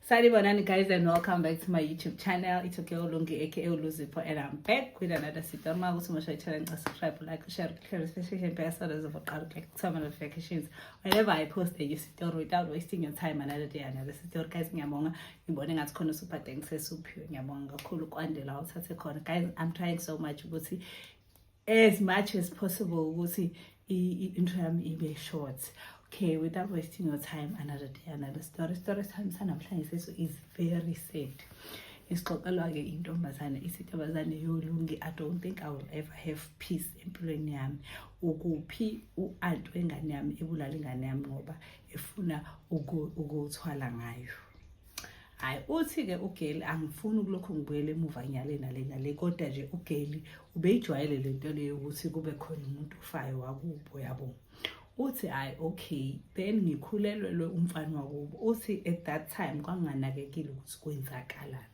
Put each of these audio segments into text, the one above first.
Sali Bonani guys and welcome back to my YouTube channel. It's okay Olungi aka Oluzipo and I'm back with another sita. Uma ukuthi umusha i-channel ngicela subscribe, like, share, share especially nje impela solo zokuqala ukuthola kuthoma notifications. Whenever I post a new story without wasting your time another day another story guys ngiyabonga ngibone ngathi khona super thanks esuphiwe ngiyabonga kakhulu kwandela uthathe khona guys I'm trying so much ukuthi as much as possible ukuthi i-intro yami ibe short okay without wasting your time another day another story story sami sanamhlanje seso is very sad isixoxelwa-ke intombazane isintombazane yolungi i don't think i will ever have peace empilweni yami ukuphi u-ant wengane yami ebulala ingane yami ngoba efuna ukuthwala ngayo hayi uthi ke ugeli angifuni ukulokhu ngibuyele emuva nyale nale nale kodwa nje ugeli ubeyijwayele le nto leyo ukuthi kube khona umuntu ufayo wakubo yabo uthi hayi okay then ngikhulelwelwe umfana wakubo uthi at that time kwanganakekile ukuthi kwenzakalani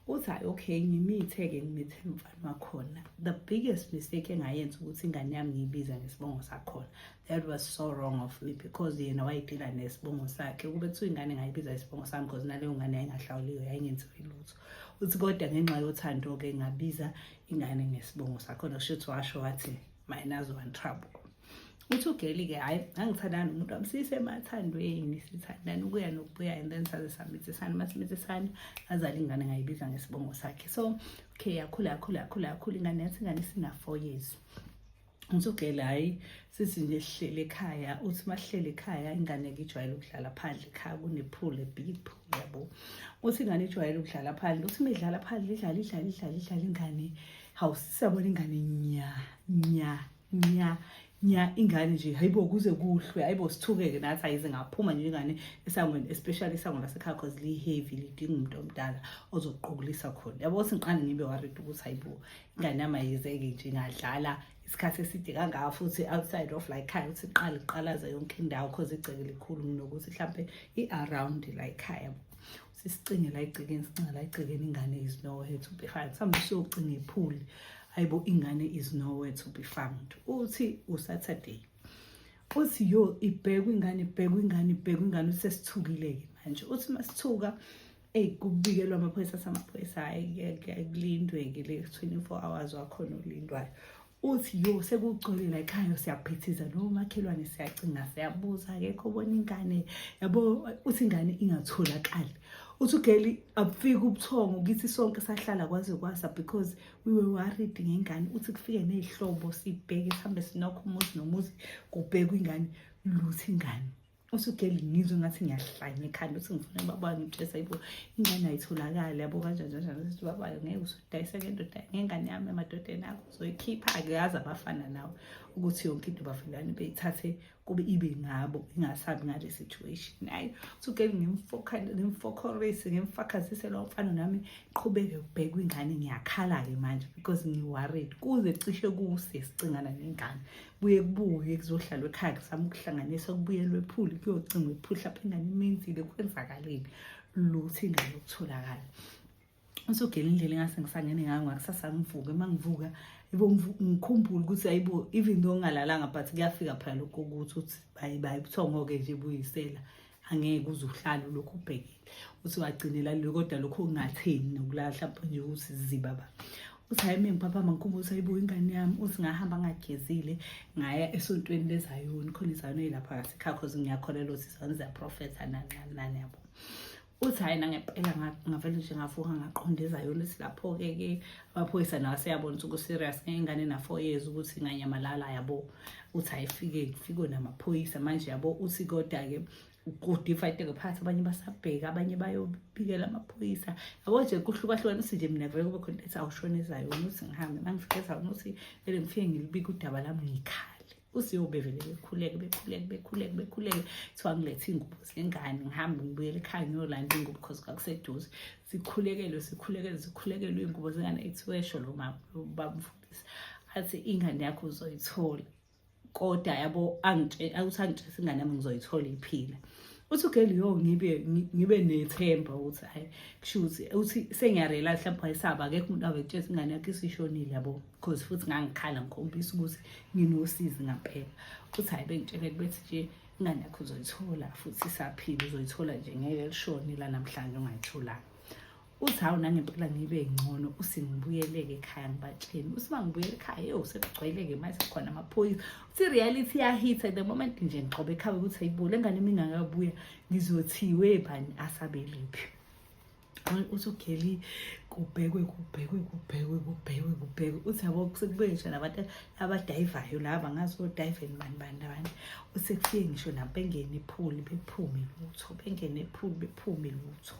uthi hayi okay ngimithe-ke ngimithe umfana wakhona the biggest mistake engayenza ukuthi ingane yami ngiyibiza ngesibongo sakhona that was so wrong of me because yena wayedila nesibongo sakhe ukube kuthiwa ingane ngayibiza isibongo sami because naleyo ngane yayingahlawuliwe yayingenziwe lutho uthi kodwa ngenxa yothando-ke ngabiza ingane ngesibongo sakhona kusho ukuthi washo wathi minus one trouble uthi ugeli-ke hhayi angithandani umuntu wami sisemathandweni sithandani ukuya nokubuya and then saze samithisana uma simithisana azale ingane ngayibiza ngesibongo sakhe so okay yakhula yakhula yakhula yakhula ingane yathi ingane sina-four years Ngithugele hhayi sithi nje sihlele ekhaya uthi masihlele ekhaya ingane ke ijwayele ukudlala phandle ekhaya kunephule bip yabo uthi ingane ijwayele ukudlala phandle uthi midlala phandle idlala idlala idlala idlala ingane hawu sisabona ingane nya nya nya nya ingane nje hayibo kuze kuhlwe hayibo sithukeke nathi ayize ngaphuma nje ingane esangweni especially isango lasekhaya cause liyi-heavy lidinga umuntu omdala ozoqukulisa khona yabo singiqane ngibe worried ukuthi hayibo nganama yizeke nje ngadlala isikhathi eside kangaka futhi outside of like khaya ukuthi iqala iqalaza yonke indawo cause igceke likhulu nokuthi mhlampe i-around like khaya sisicinge la igcekeni sicinga la igcekeni ingane is nowhere to be found mhlawumbe siyocinga iphuli ayibo ingane is nowhere to be found uthi usaturday uthi yo ibhekwa ingane ibhekwa ingane ibhekwa ingane usesithukile-ke manje uthi masithuka eyi kubikelwa amaphoyisa samaphoyisa hhayi kulindwe-ke le 24 hours wakhona olindwayo uthi yo sekugcwele la ekhaya siyaphithiza lo makhelwane siyacinga siyabuza akekho obona ingane yabo uthi ingane ingatholakali uthi ugeli abufika ubuthongo kithi sonke sahlala kwaze kwasa because we were worried ngengane uthi kufike nezihlobo sibheke sihambe sinokho umuzi nomuzi kubhekwa ingane luthi ingane usugeli ngizwe ngathi ngiyahlanya ekhanda uthi ngifuna baba ngitshesa ibo ingane ayitholakali yabo kanjani kanjani ukuthi baba ngeke usudayisa ke ndoda ngengane yami emadodeni akho uzoyikhipha ake yazi abafana nawe ukuthi yonke into bafilani beyithathe kube ibe ngabo ingasabi ngale situation hayi usugeli ngimfokhorisi ngimfakazise lo mfana nami qhubeke ubhekwa ingane ngiyakhala-ke manje because ngiworried kuze cishe kuse sicingana nengane kuye kubuye kuzohlalwa ekhaya kuzama ukuhlanganisa kubuyelwe ephuli kuyocingwa iphuli lapho ingane imenzile kwenzakaleni lutho ingane yokutholakala usogela indlela engase ngisangene ngayo ngakusasa ngivuke uma ngivuka ngikhumbule ukuthi ayibo even though ngingalalanga but kuyafika phela lokho ukuthi uthi bayi bayi kuthiwa ngoke nje buyisela angeke uze uhlale lokhu ubhekile uthi wagcinela lelo kodwa lokhu ungatheni nokulala mhlawumpe nje ukuthi ziba ba uthi hayi mina ngiphaphama ngikhumbuza ukuthi ayibuye ingane yami uthi ngahamba ngagezile ngaya esontweni lezayoni khona izayoni eyilapha ngasekhaya cause ngiyakholelwa ukuthi izayoni ziyaprofetha nancane nani yabo uthi hhayi nangempela ngavele nje ngavuka ngaqonda ezayona esilapho-ke ke amaphoyisa nawo aseyabona ukuthi ku-serious ngengane na-four years ukuthi inganyamalala yabo uthi ayifike kufike namaphoyisa manje yabo uthi koda-ke kudifaiteke phakathi abanye basabheka abanye bayobikela amaphoyisa yabo nje kuhlukahlukana uthi nje mina vele kube khona ethi awushonezayo ukuthi ngihambe mangifike ezawona ukuthi vele ngifike ngilibike udaba lami ngikhale usiyo bevele bekhuleke bekhuleke bekhuleke bekhuleke kuthiwa ngilethe iy'ngubo zengane ngihambe ngibuyele ekhaya ngiyolanda iy'ngubo because kwakuseduze sikhulekelwe sikhulekelwe sikhulekelwe iy'ngubo zengane ethi wesho lo mama babamfundisi athi ingane yakho uzoyithola kodwa yabo ukuthi angitshese ingane yami ngizoyithola iphila uthi ugeli yo ngibe ngibe nethemba ukuthi hayi kusho ukuthi uthi sengiyarela mhlawumbe wayesaba akekho umuntu awetshesa ingane yakhe isishonile yabo because futhi ngangikhala ngikhombisa ukuthi nginosizi ngampela futhi hayi bengitshele bethi nje ingane yakho uzoyithola futhi isaphile uzoyithola nje ngeke lishone la namhlanje ungayitholanga uthi hawu nangempela ngibe ngcono usingibuyeleke ekhaya ngibatsheni uthi uma ngibuyele ekhaya yo sekugcweleke manje sekhona amaphoyisa uthi reality yahitha the moment nje ngiqobe ekhaya ukuthi ayibule engane mina ngakabuya ngizothiwe bani asabelephi uthi ugeli kubhekwe kubhekwe kubhekwe kubhekwe kubhekwe uthi yabo sekube ngisho nabantu abadayivayo laba ngazi kodayiveni bani bani abantu usekufike ngisho nabo bengene ephuli bephume lutho bengene ephuli bephume lutho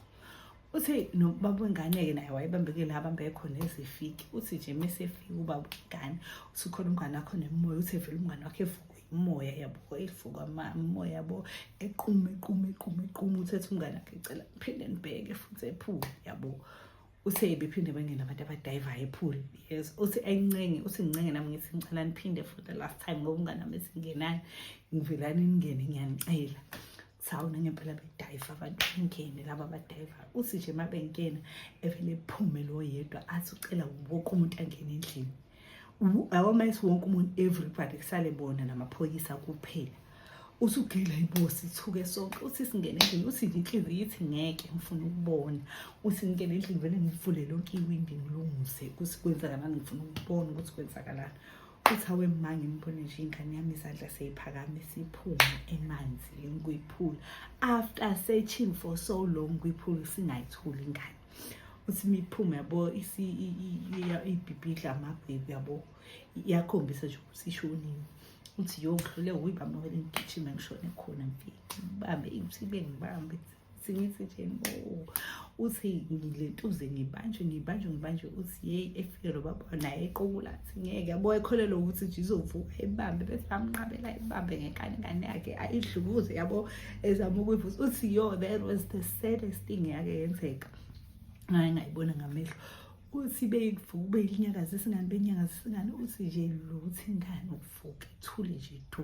uthi nobaba wengane-ke naye wayebambekile abambeke khona ezifiki uthi nje mesefika ubaba wengane uthi khona umngane wakho nemoya uthi vele umngane wakho evuka umoya yabo eyifuka umoya yabo equme equme equme equme uthethe umngane akhe cela phinde nibheke futhi ephule yabo uthe bephinde bengena abantu abadayivayo ephule yes uthi ayincenge uthi ngincenge nami ngithi ngicela niphinde for the last time ngoba umngane nami esingenayo ngivelani ningene ngiyanicela sawona ngempela bedayiva abantu bengene laba badayiva uthi nje uma bengena evele ephume lo yedwa athi ucela wonke umuntu angene endlini awamesi wonke umuntu everybody kusale bona namaphoyisa kuphela uthi ugila ibosi ithuke sonke uthi singene endlini uthi inhliziyo ithi ngeke ngifuna ukubona uthi ngingene endlini vele ngivule lonke iwindi ngilungise ukuthi kwenzakalani ngifuna ukubona ukuthi kwenzakalani uthi awe ma ngimbone nje ingane yami izandla seyiphakame siphume emanzi lengiyiphula after searching for so long kuyiphula singayitholi ingane uthi miphume yabo ibhibhidla amabhebi yabo iyakhombisa nje ukuthi ishonile uthi yo ngihlule uyibamawele ngigijime ngishone khona mfike ngibambe ithi bengibambe singithi nje uthi ngilentuze ngibanjwe ngibanjwe ngibanjwe uthi yeyi efike lo baba naye eqokula athi ngeke yabo ekholelwa ukuthi nje izovuka ibambe bese bamnqabela ibambe ngenkani ngane yakhe ayidlukuze yabo ezama ukuyivusa uthi yo that was the saddest thing yake yenzeka ngaye ngayibona ngamehlo uthi beyivuka beyinyakaza isingane beyinyakaza isingane uthi nje luthi ingane uvuke ithule nje du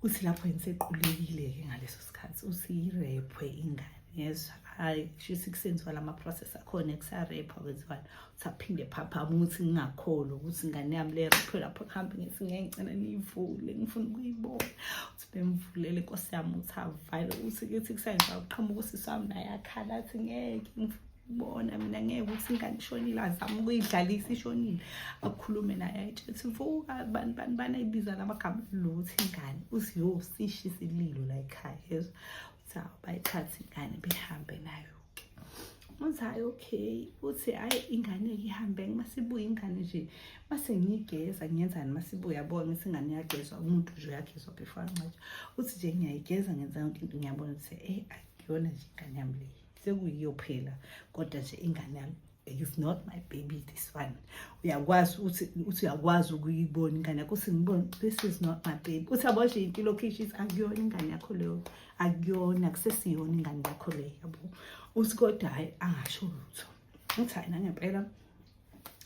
uthi lapho yena sequlekile-ke ngaleso sikhathi uthi irepwe ingane yezwa hhayi shisa kusenziwa la ma-process akhona ekusarepha kwenziwani uthi aphinde phaphama ukuthi ngingakholo ukuthi ingane yami lerephe lapho kuhambe ngithi ngeke ngicela niyivule ngifuna ukuyibona uthi bemvulele nkosi yami uthi avale uthi kithi kusenziwa kuqhamuka usisi wami naye akhala athi ngeke ngifuna bona mina ngeke ukuthi ingane ishonile azame ukuyidlalisa ishonile akukhulume naye ayitshela ukuthi vuka bani bani bani ayibiza namagama lokuthi ingane uthi yo sishi isililo la ekhaya yezwa uthi hawu bayithathe ingane behambe nayo uthi hayi okay uthi hayi ingane ihambe masibuye ingane nje mase ngiyigeza ngiyenzani masibuye yabona ukuthi ingane iyagezwa umuntu nje uyagezwa before ancwatshwa uthi nje ngiyayigeza ngenzani into ngiyabona ukuthi eh akuyona nje ingane yami leyi sekuyiyo phela kodwa nje ingane yami it's not my baby this one uyakwazi uthi uthi uyakwazi ukuyibona ingane yakho uthi ngibone this is not my baby uthi yabo nje impilo kishes akuyona ingane yakho leyo akuyona kusesiyona ingane yakho leyo yabo uthi kodwa hayi angasho lutho uthi hayi nangempela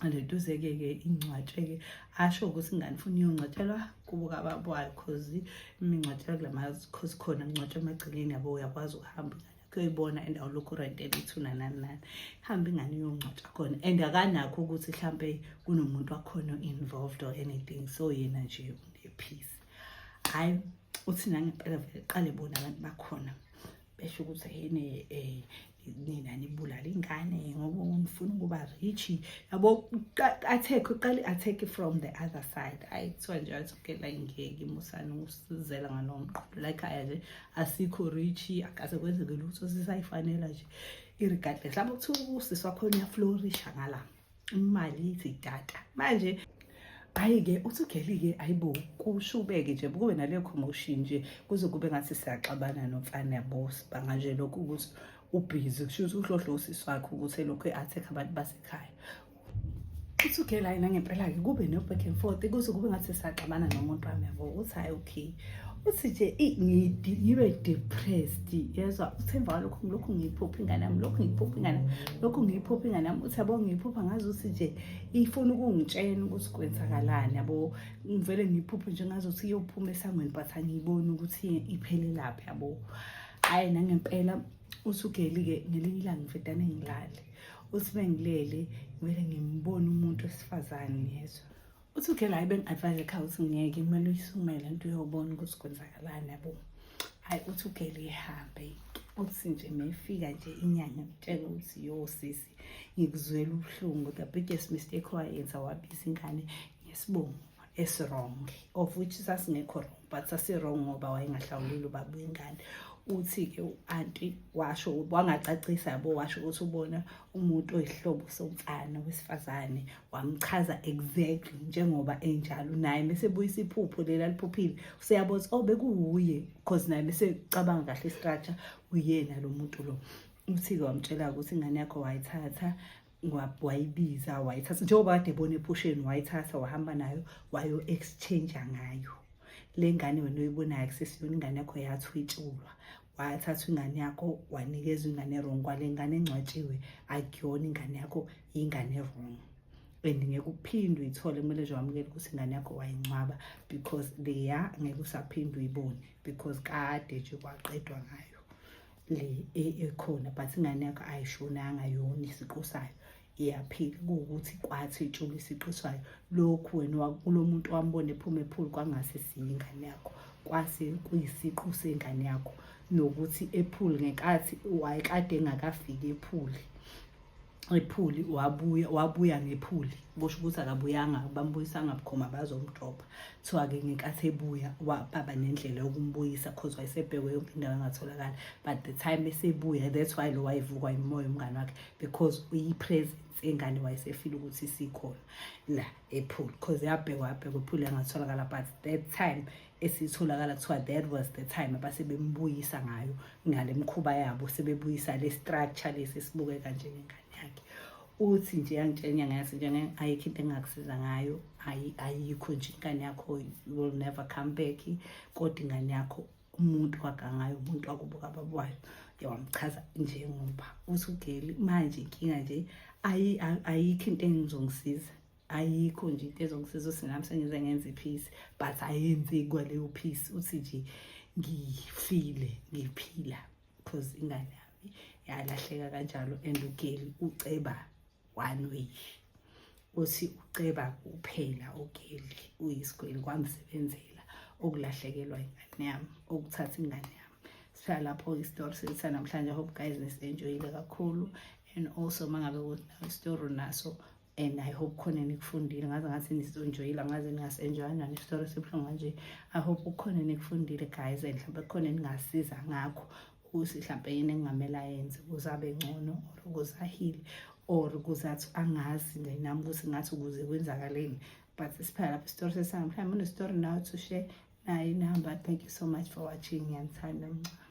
aleduzeke ke ingcwatsheke asho ukuthi ingane funa iyongcwatshelwa kubo kababo wayo cause imingcwatshela kula mazi cause khona ngcwatshwa emagcekeni yabo uyakwazi ukuhamba ingane kuyoyibona and awulokhu urentela ithuna nani nani hambe ingane iyongcwatsha khona and akanakho ukuthi mhlampe kunomuntu wakhona involved or anything so yena nje unephisi hayi uthi nangempela vele qale bona abantu bakhona besho ukuthi yini eh nina nibulala ingane ngoba ngifuna ukuba rich yabo attack uqale attack from the other side ayi kuthiwa nje athi ukela ingeke musani usizela ngalomqondo like aya nje asikho richi akaze kwenzeke lutho sisayifanela nje irigade mhlawumbe kuthiwa usisi wakhona uyaflorisha ngala imali ithi data manje hayi-ke uthi ugeli-ke ayibo kushubeke nje kube naleyo commotion nje kuze kube ngathi siyaxabana nomfana yabo sibanga nje lokhu ukuthi ubhizi kusho ukuthi uhlohla usisi wakhe ukuthi elokhu e-attack abantu basekhaya uthi ugela yena ngempela-ke kube no-back and forth kuze kube ngathi saxabana nomuntu wami yabo uthi hhayi okay uthi nje ngibe depressed yezwa uthemba walokhu lokhu ngiyiphupha ingane yami lokhu ngiyiphupha ingane lokhu ngiyiphupha ingane yami uthi yabo ngiyiphupha ngazi ukuthi nje ifuna ukungitshena ukuthi kwenzakalani yabo ngivele ngiyiphuphe nje ngazi ukuthi iyophuma esangweni but angiyiboni ukuthi iphelelaphi yabo hhayi nangempela usugeli-ke ngelinye ilanga ngifedane ngilale uthi bengilele ngivele ngimbone umuntu wesifazane ngezwa uthi uke la bengi-advise ekhaya ukuthi ngeke kumele uyisumele nto uyobona ukuthi kwenzakalani yabo hhayi uthi ugele ihambe uthi nje mefika nje inyanga ngitshela ukuthi yo sisi ngikuzwela ubuhlungu the biggest mistake owayenza wabiza ingane ngesibongo esirong of which sasingekho wrong but sasirong ngoba wayengahlawuleli ubaba wengane uthi-ke u-anti washo wangacacisa yabo washo ukuthi ubona umuntu oyihlobo somfana wesifazane wamchaza exactly njengoba enjalo naye mesebuyisa iphupho lela liphuphile useyabona ukuthi oh bekuwuye because naye mesecabanga kahle istructure uyena lo muntu lo uthi-ke wamtshela ukuthi ingane yakho wayithatha wayibiza wayithatha njengoba kade ebona ephusheni wayithatha wahamba nayo wayo-exchange ngayo le ngane wena oyibonayo kusesiyona ingane yakho yathwetshulwa wathatha ingane yakho wanikezwa ingane wrong kwale ngane engcwatshiwe akuyona ingane yakho yingane wrong and ngeke uphinde uyithole kumele nje wamukele ukuthi ingane yakho wayincwaba because leya ngeke usaphinde uyibone because kade nje kwaqedwa ngayo le e, ekhona but ingane yakho ayishonanga yona isiqu sayo iyaphila kuwukuthi kwathi itshula isiqu sayo lokhu wena kulo muntu wambona ephuma ephulu kwangase siyingane yakho kwase kuyisiqu sengane yakho nokuthi ephuli ngenkathi wayekade engakafiki ephuli iphuli wabuya wabuya ngephuli kusho ukuthi akabuyanga bambuyisanga bukhoma bazomdropha kuthiwa-ke ngenkathi ebuya baba nendlela yokumbuyisa cause wayesebhekwe yonke indawo engatholakala but the time esebuya that's why lo wayevukwa imoya umngane wakhe because uyi-presence ingane wayesefile ukuthi sikhona la ephuli cause yabhekwa yabhekwa iphuli yangatholakala but that time esitholakala kuthiwa that was the time abasebembuyisa ngayo ngale mkhuba yabo sebebuyisa le structure lesi esibukeka njengengane yakhe uthi nje yangitshela inyanga yase nje ayikho into engakusiza ngayo ayikho nje ingane yakho will never come back kodwa ingane yakho umuntu wagangayo umuntu wakubuka babwayo yawamchaza njengoba uthi ugeli manje inkinga nje ayikho into engizongisiza ayikho nje into ezongisiza ukuthi nami sengize ngenze iphisi but ayenzi kwaleyo phisi uthi nje ngifile ngiphila because ingane yami yalahleka kanjalo and ugeli uceba one way uthi uceba kuphela ugeli uyisigweli kwamsebenzela okulahlekelwa ingane yami okuthatha ingane yami sihlala lapho isitori sethu namhlanje hope guys nisienjoyile kakhulu and also mangabe ukuthi nawe isitori naso and i hope khona nikufundile ngaze ngathi nisonjoyile ngaze ningasenjoya njani isitori esibuhlungu kanje i hope kukhona nikufundile guys and mhlawumbe kukhona ningasiza ngakho ukuthi mhlawumbe yini engingamele ayenze ukuze abe ngcono or ukuze ahile or ukuze athi angazi nje nami ukuthi ngathi ukuze kwenzakaleni but siphela lapho isitori sesami mhlawumbe unesitori nawe to share naye inihamba thank you so much for watching ngiyanithanda mncane